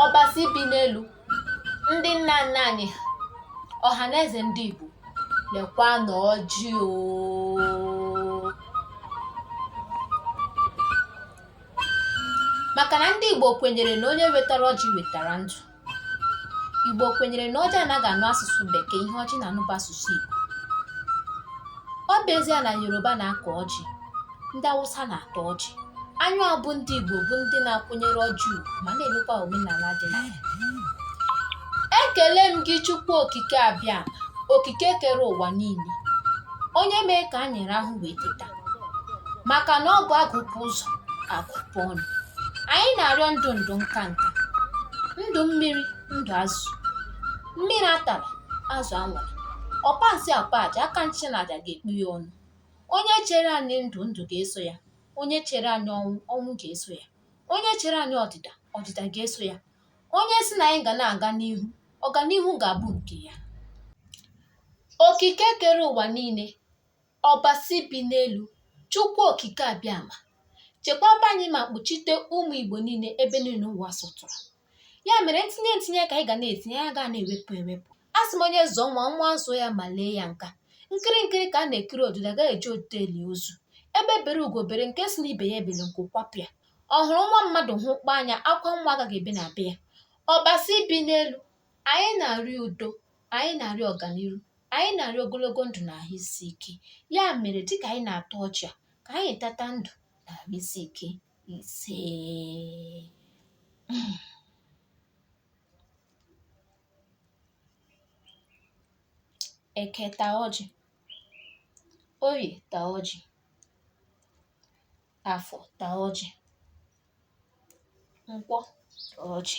ọbasi bi n'elu ndị nna nna anyị ha ọha na eze ndị igbo lekwanụ ọjị o maka na ndị igbo kwenyere na onye wetara ọjị wetara ndụ igbo kwenyere na ọjị anaghị anụ asụsụ bekee ihe ọjị na-anụ bụ asụsụ igbo ọ bụ ezie na yoruba na-akọ ọjị ndị awụsa na-ata ọjị anyị bụ ndị igbo bụ ndị na-akwụnyere ọjị ugwu ma na-emekwa omenala dị na ya ekele m gị chukwu okike abịama okike kere ụwa niile onye mee ka anyị rahụ wee teta maka na ọ bụ agụpụ ụzọ agụpụ ọnụ anyị na-arịọ ndụ ndụ nka nka ndụ mmiri ndụ azụ mmiri atala azụ anwụla ọkpa nsị akpa aja aka nsị na aja ga-ekpu ya ọnụ onye chere anyị ndụ ndụ ga-eso ya onye chere anyị ọnwụ ọnwụ ga-eso ya onye chere anyị ọdịda ọdịda ga-eso ya onye sị na anyị ga na-aga n'ihu ọganihu ga-abụ nke ya okike kere ụwa niile ọbasi bi n'elu chukwu okike abịama chekwaba anyị ma kpuchite ụmụ igbo niile ebe niile ụwa sọtụrụ ya mere ntinye ntinye ka anyị ga na-etinye anyị agaghị na-ewepụ ewepụ asị m onye zụọ nwa nwa azụọ ya ma lee ya nka nkiri nkiri ka a na-ekiri ododo agaghị eji ododo eli ozu egbe bere ugo bere nke sị na ibe ya ebele nku kwapụ ya ọ hụrụ nwa mmadụ hụkpọ anya akwa nwa agaghị ebe na be ya ọbasi bi n'elu anyị na-arịọ udo anyị na-arịọ ọganihu anyị na-arịọ ogologo ndụ na ahụ isi ike ya mere dịka anyị na-ata ọjị a ka anyị tata ndụ na ahụ isi ike ise Eke ta ọjị, Oye ta ọjị, Afọ ta ọjị, Nkwọ ta ọjị.